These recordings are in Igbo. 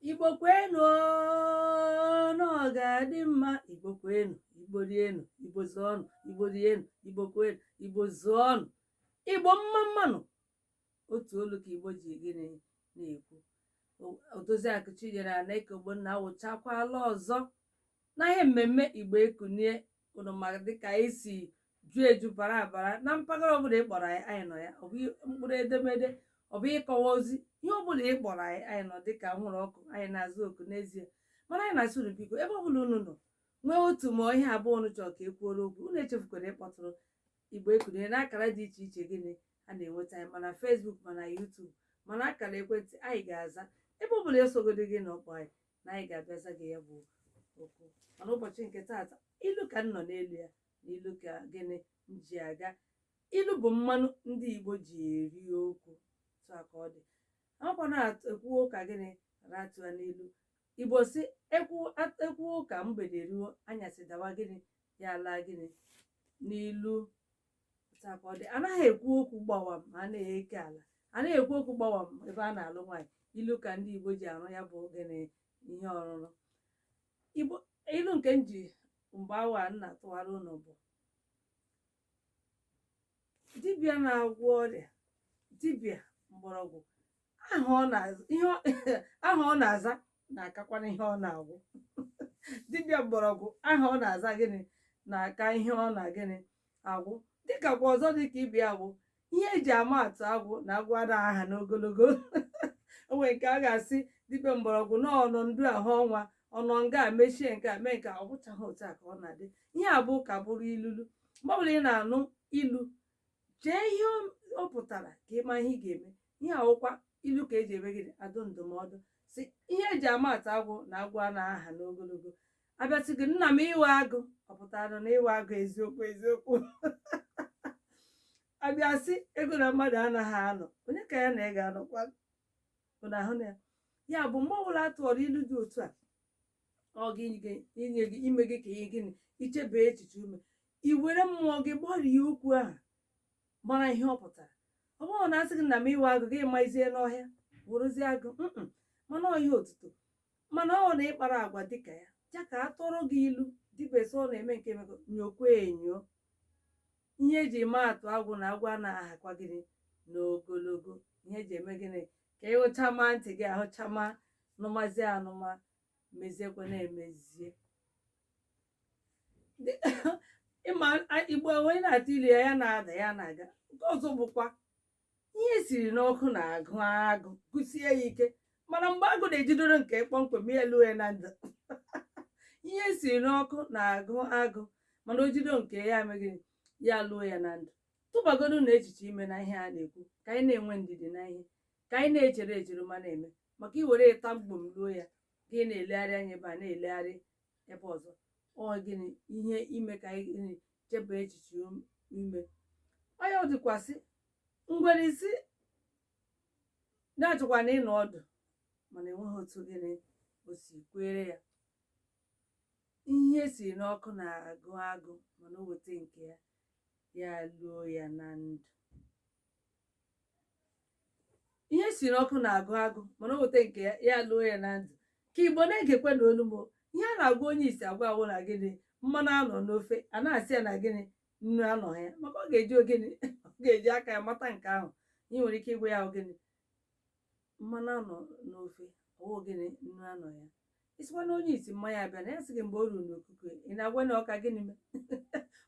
igbo kwenu na ọ ga-adị mma igbo kwenu igbo rienu igbo zụọnụ igbo rienu igbo kwenu igbo zụọnụ igbo mma mma nụ otu olu ka igbo ji gịnị na-ekwu odoziakụ chinyere anaeke ogbonna awụchakwala ọzọ na ihe mmemme igbo ekunie unu mara dịka anyị si ju eju bara abara na mpaghara ọbụla ị kpọrọ anyị anyị nọ ya ọ bụ mkpụrụ edemede ọ bụ ịkọwa ozi ihe ọbụla ị kpọrọ anyị anyị nọ dịka anwụrụ ọkụ anyị na-aza oku n'ezie mana anyị na-asị unu biko ebe ọbụla unu nọ nwee otu ma ihe abụọ unu chọrọ ka e kwuoro okwu unu echefukwara ịkpọtụrụ igbo ekunie n'akara dị iche iche gịnị a na-enweta anyị ma na Facebook ma na YouTube ma na akara ekwentị anyị ga-aza ebe ọbụla e sogodị gịnị akpọ anyị na anyị ga-abịa za gị ya bụ okwu mana ụbọchị nke taata ilu ka m nọ n'elu ya na ilu ka gịnị m ji aga ilu bụ mmanụ ndị igbo ji eri okwu otu a ka ọ dị a makwa na-ekwu ụka gịnị ratu ya n'ilu igbo sị ekwu at- ekwu ụka mgbede ruo anyasị dawa gịnị ya laa gịnị n'ilu otu a ka ọ dị anaghị ekwu okwu gbawam a na-eke ala anaghị ekwu okwu gbawam ebe a na-alụ nwaanyị ilu ka ndị igbo ji arụ ya bụ gịnị ihe ọrụrụ ilu nke m ji mgbe awa a na-atụwara unu bụ dibịa na-agwọ ọrịa dibịa mgbọrọgwụ aha ọ na-aza ihe ọ- aha ọ na-aza na-akakwara ihe ọ na-agwọ dibịa mgbọrọgwụ aha ọ na-aza gịnị na-aka ihe ọ na gịnị agwọ dịkakwa ọzọ dịka ibe ya bụ ihe eji ama atụ agwọ na agwọ ada aha n'ogologo o nwere nke a ga-asị dibịa mgbọrọgwụ na ọnọ ndu ahụ ọnwa ọ nọ nga a mechie nke a mee nke a, ọ bụchaghị otu a ka ọ na-adị ihe a bụ ka bụrụ ilulu mgbe ọbụla ị na-anụ ilu chee ihe o- o pụtara ka ị maa ihe ị ga-eme ihe a wụkwa ilu ka eji eme gịnị adụ ndụmọdụ sị ihe eji ama atụ agwọ na agwọ a na-aha n'ogologo a bịa sị gị nna m ị wụ agụ ọ pụtara na ị wụ agụ eziokwu eziokwu a bịa sị agụ na mmadụ anaghị anọ onye ka ya na ị ga-anọkwa bụ na ahụ na ya ya bụ mgbe ọbụla a tụọrọ ilu dị otu a ọ gị inye gị ime gị ka ihe gịnị i chebe echiche ume i were mmụọ gị gbarie okwu ahụ mara ihe ọ pụtara ọ bụrụ na a sị gị nna m ị wụ agụ gị mazie n'ọhịa wụrụzie agụ mm mana ọ ihe otuto mana ọ na ịkpara agwa dịka ya ya ka a tụọrọ gị ilu dibịa sị ọ na-eme nke emego nyokwa enyo ihe eji ama atụ agwọ na agwọ a na-ahakwa gịnị n'ogologo ihe eji eme gịnị ka ị hụchama ntị gị ahụchama nụmazie anụma meziekwa na-emezie ịma igbo onye na-atụ ilu ya ya na-ada ya na-aga nke ọzọ bụkwa ihe siri n'ọkụ na-agụ agụ gụsie ya ike mana mgbe agụ na-ejidoro nke kpọmkwem ya luo ya na ndụ ihe siri n'ọkụ na-agụ agụ mana o jido nke ya emeghị ya luo ya na ndụ tụbagodu n'echiche ime na ihe a na-ekwu ka anyị na-enwe ndidi na ihe ka anyị na-echere echere ma na-eme maka i weta mgbom luo ya gị na-elegharị anya ebe a na-elegharị ebe ọzọ ọ gịnị ihe ime ka anyị gịnị chebe echiche ime onye ọ dịkwasị ngwere isi na-achọkwa na ịnọ ọdụ mana enweghị otu gịnị o si kwere ya ihe siri n'ọkụ na-agụ agụ mana o weta nke ya ya luo ya na ndụ ihe siri n'ọkụ na-agụ agụ mana o weta nke ya ya luo ya na ndụ ka igbo na-egekwanụ olu m ihe a na-agwa onye isi agwa wụ na gịnị mmanụ anọ n'ofe a na-asị ya na gịnị nnu anọ ya maka ọ ga-eji o gịnị ọ ga-eji aka ya mata nke ahụ ị nwere ike ịgwa ya o gịnị mmanụ anọ n'ofe ọ wụ gịnị nnu anọ ya ị sịkwanụ onye isi mmanya abịana ya sị gị mgbe o ruru n'okuku ya ị na-agwa na ọka gịnị mee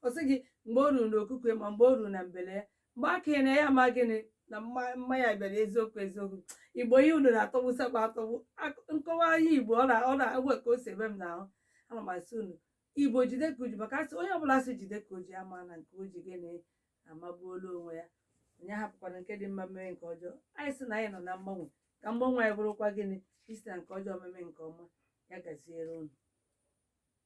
ọ sị gị mgbe o ruru n'okuku ya ma mgbe o ruru na mbele ya mgbe a ka ị na ya ma gịnị na mma- mmanya bịara eziokwu eziokwu igbo ihe unu na-atọgbusikwa atọgbu Ak- nkọwa ihe igbo ọ na- ọ na-ewe ka o si eme m n'ahụ ana m asị unu igbo jide ka o ji maka a sị onye ọbụla sị jide ka o ji a ma na nke o ji gịnị amagbuola onwe ya onye hapụkwara nke dị mma mee nke ọjọọ anyị sị na anyị nọ na mgbanwe ka mgbanwe anyị bụrụkwa gịnị isite na nke ọjọọ meme nke ọma ya gaziere unu